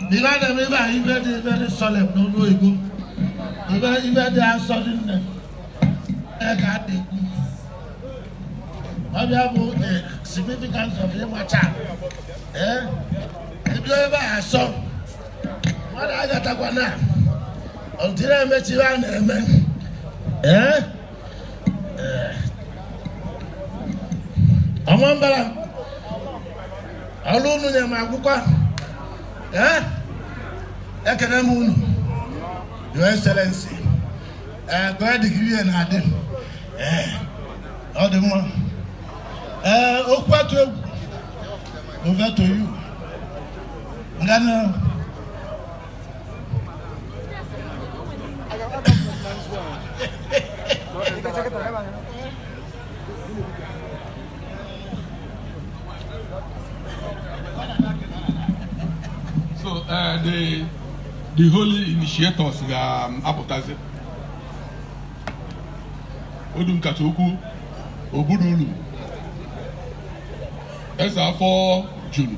ive a na-eme ebe a ive dị ive dị solemn n'olu oyibo ive ive dị asọ dị nne ee ka a na-ekwu ọ bụ ya bụ the significance of ịmacha ee ebido ebe a asọ mmadụ agatakwa na ọtụtụ na-emechi ive a na-eme ee Ọmambala ọrụ unu nyere m akwụkwọ ee ekene m unu your excellency ee gụọ digiri ya na-adị ee ọ dị mma ee okwu atụ egwu over to you ngana so uh, the the holy initiators ga-apụtazi um, Odu Nkata Ukwu Ogbudulu Eze Afọ Juru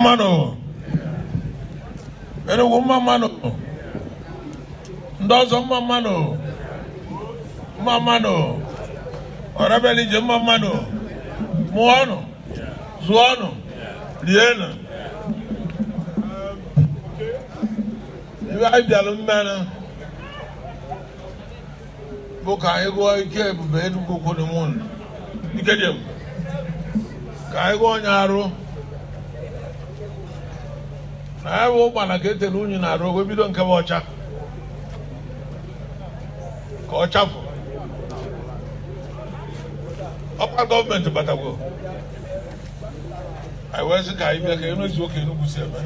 mmanụ Enugu mma mmanụ ndị ọzọ mma mmanụ mma mmanụ ọra bịalụ ije mma mmanụ mụọnụ zụọnụ rienụ ibe anyị bịalụ mmanụ bụ ka anyị gụọ ike ebube Enugu Kwonimun ike dị ebube ka anyị gụọ onye arụ na ya bụ ụgbana ka e tere unyi n'arụ wee bido nke bụ ọcha ka ọ chafụ ọ kwa government batagwo anyị wee sị ka anyị bịa ka enu ezu oke Enugu si eme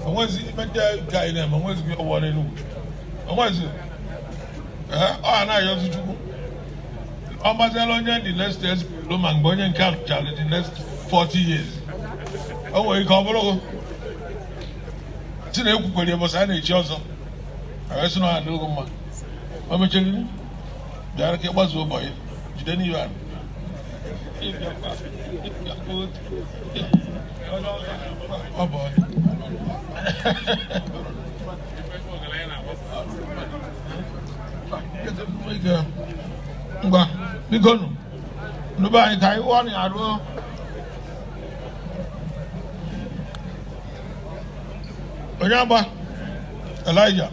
onwezi imecha ka anyị na-eme onwezi gị ọwụwa n'Enugu onwezi ọ anaghị ozi chukwu ọ gbaziela onye the next ezipụrụ ma mgbe onye nke a lụchara the next 40 years o nwere ike ọ bụrụ si na ekwukwere ya bụsa a n'echi ọzọ a sị na ọ dịghị mma o mechiri bịara ka ịgbazu ụbọchị jide n'ihe ahụ ọ bụ ngwa biko nụ nụba anyị ka anyị wụọ na ya ruo onye agba elija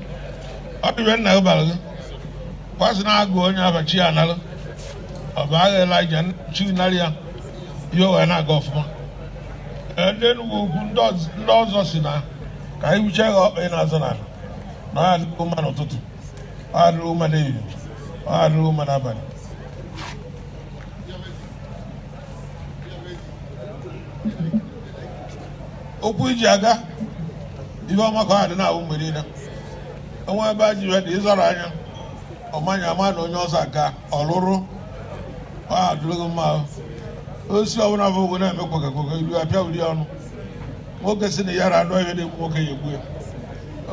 ọ dịbe nna gị bara gị kwasị na-agụ onye abachi ya nalụ ọ bụ agha elija chi narị ya ihe o wee na-aga ọfụma Ee, ndị Enugwu ukwu ndị ọz- ndị ọzọ si na ka anyị wuchie gị ọkpa ị na-azụ na na ọ ga-adị gị mma n'ụtụtụ ọ ga-adị gị mma n'ehihie ọ ga-adị gị mma n'abalị ụkwụ i ji aga ife ọma ka ọ ga-adị na-awụ mgbe niile enwe ebe a ji ya dị ịzọrọ anya ọma anya ọma na onye ọzọ aga ọlụrụ ọ ga-adị gị mma ahụ. osi ọbụla bụ ogo na-eme kpọgakpọga ilu apịa ụdị ọnụ nwoke si na ya ra anụ ihe na-egbu nwoke ya egbu ya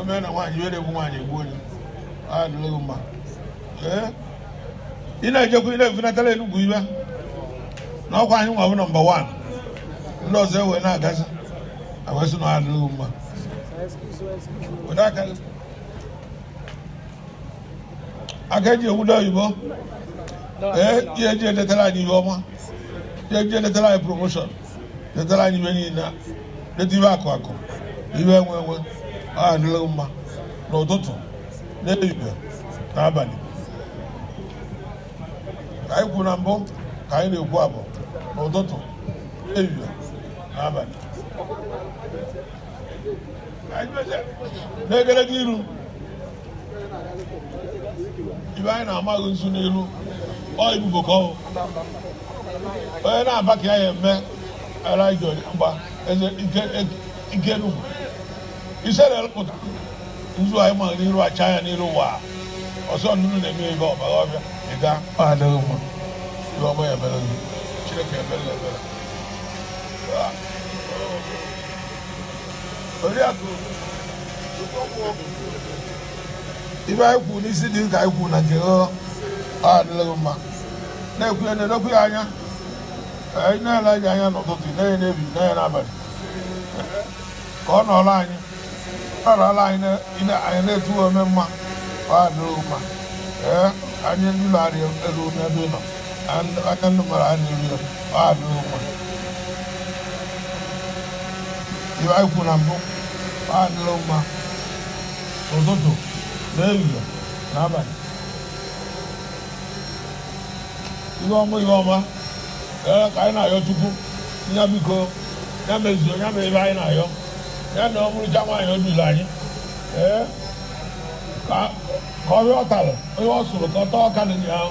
o mee na nwaanyị ihe na-egbu nwaanyị egbu ya ọ ga-adịrị gị mma ee ị na-ejekwa ị na-efunatara enugwu ife na ọkwa anyị nwa bụ nọmba wan ndị ọzọ ewee na-agazi awesị na adịrị gị mma were aka gị aka eji ebute oyibo ee ihe eji enwetara anyị ihe ọma ihe eji enwetara anyị promoshọn nwetara anyị ife niile nweta ife akụ akụ ife enwe enwe ọ ga-adịlị mma n'ụtụtụ n'ehihie na abalị ka anyị kwuru na mbụ ka anyị na-ekwu abụ n'ụtụtụ n'ehihie na abalị n'egedege iru ibe anyị na-ama gị nzu n'iru ọ ibubo ka ọ onye na-aba ka ya ya eme ala ije mgba eze ike nugwu ise na-elụpụta nzu anyị ma gị n'iru acha ya n'iru ụwa ọsọ nnụnụ na-eme ebe ọbara ọbịa ịga ọ ga-adị gị mma ihe ọma ya mere chineke ebere ebere oriakụ ife anyị kwuru n'isi dị ka anyị kwuru na nke ọ ga-adịlị gị mma na-ekwu ya na-edokwu ya anya anyị na-ele anyị anya n'ụtụtụ na-enye n'ehihie na-enye n'abalị ka ọ nọrọ anyị ọ nọrọ anyị anyị na-etu ome mma ọ ga-adịlị gị mma ee anyị ndị na-arị elu n'ebe ị nọ aka ndị mara ha na-eri ya ọ adị ụkwa ive anyị kwuru na mbụ ọ adịrị mma ụtụtụ na ehihie na abalị ihe ọma ihe ọma ee ka anyị na-ayọ Chukwu na biko ya mezuo ya mee ive anyị na-ayọ ya na ọ bụrụcha nwaanyị o duru anyị ee ka ka ọhịa ọ tara onye ọ sụrụ ka ọ taa ọka dị ya ahụ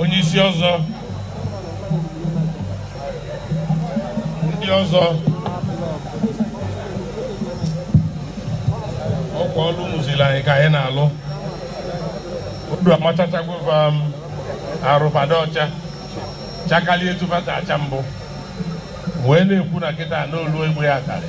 onye isi ọzọ ndị ọzọ ọkwa ọlụ unu ziri anyị ka anyị na-alụ odu amachachagova m arụfada ọcha chakalie tụfata acha mbụ wee na-ekwu na kịta n'olu egbe ya karị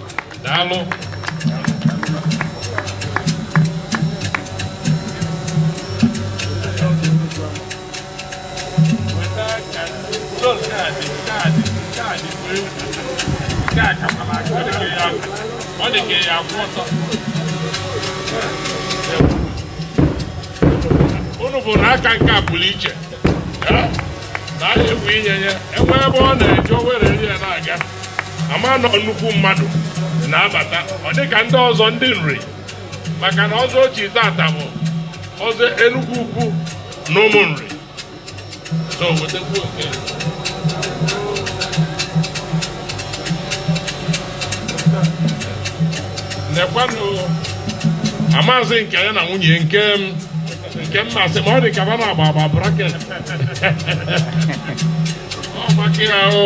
daalụ ọ dị ka ya akwụ ọtọ unu bụ na aka nke a pụrụ iche na a na-evu inye ya e nwee ebe ọ na-eje o were ya na-aga a ma na ọ nnukwu mmadụ na-abata ọ dị ka ndị ọzọ ndị Nri maka na ọzọ o chi tata bụ ọzọ Enugwu Ukwu na ụmụ Nri so wetakwu oke nekwanụ amaazị nke ya na nwunye nke m nke m masị ma ọ dị ka va na-agba agba braket ọ maka ya o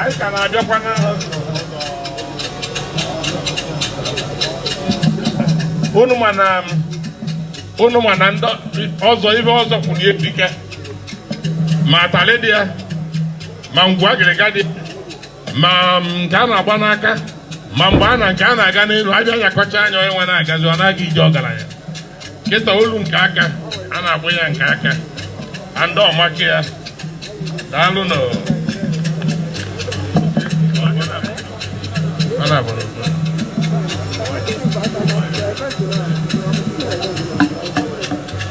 anyị ka na-abịakwa na unu ma na unu ma na ndị ọzọ ive ọzọ kwụrụ erike ma atalị dị ya ma ngwu agịrịga dị ma nke a na-agba n'aka ma mgbe a na nke a na-aga n'elu abịa nyakọcha anya onye nwe na-agazi ọ na-aga ije ọgaranya kịta olu nke aka a na-agba ya nke aka andị ọmaka ya daalụ nụ Thank you.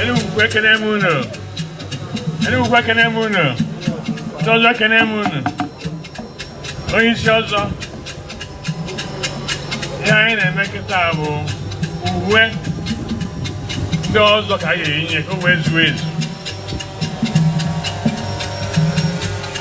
Enugwu ekene m unu Enugwu ekene m unu ndị ọzọ ekene m unu onye isi ọzọ ihe anyị na-eme kịta bụ uwe ndị ọzọ ka anyị ga-eyinye ka o wee zuo ezu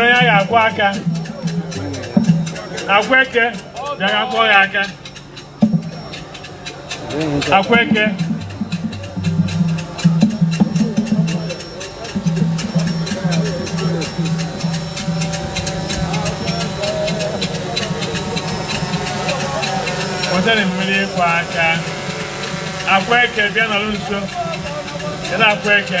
onye a ga-akwọ aka Akweke bịara kwọọ ya aka Akweke wetenụ mmiri ịkwọ aka Akweke bịa nọrọ nso Kedu Akweke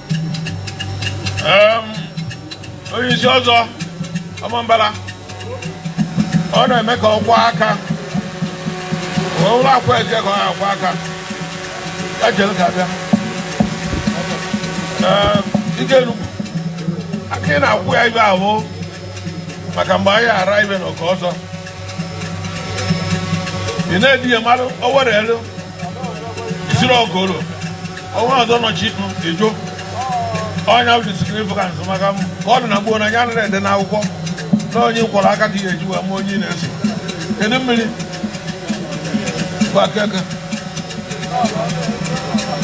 onye isi ọzọ Ọmambala ọ na-eme ka ọ kwọọ aka ụlọ akwa eje ka ọ na-akwọ aka ya jere ka abịa ike Enugwu aka ị na-akwụ ya ibe ahụ maka mgbe anyị ara ibe na oke ọzọ ị na-edighị mmadụ o were elu siri ọgoro ọnwa ọzọ nọchi ejo ọnya bụ significance maka m ka ọ dị na gboo na ya nara ede n'akwụkwọ na onye kwọrọ aka ka ihe eji wee ma onye na-eso kedu mmiri bụ Akweke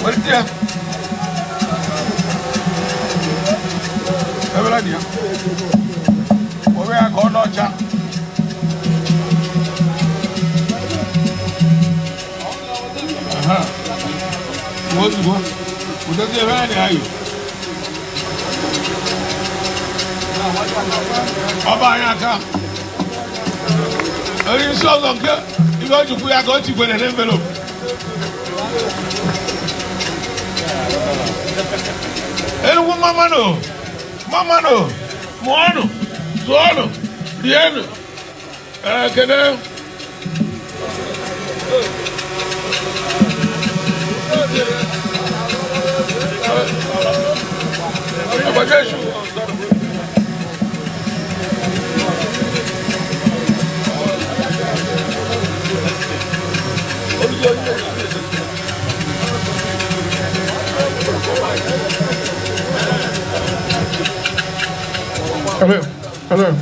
welite ya ebela dị ya Oriakụ Ọnọcha ozugbo ụdezi ebe anyị ayụ ọba anyị aka onye isi ọzọ nke ihe o jikwu ya ka o tikwere n'envelope Enugwu mma mma nụ mụọnụ zụọnụ rienụ ekene Abajesu. Hello. Hello.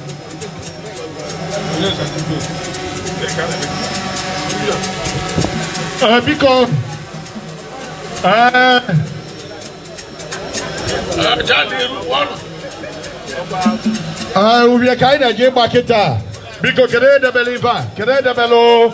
Uh, biko uh, uh, ubie ka anyị na-eji ịgba kịta biko kedu edebela ife a kedu edebela o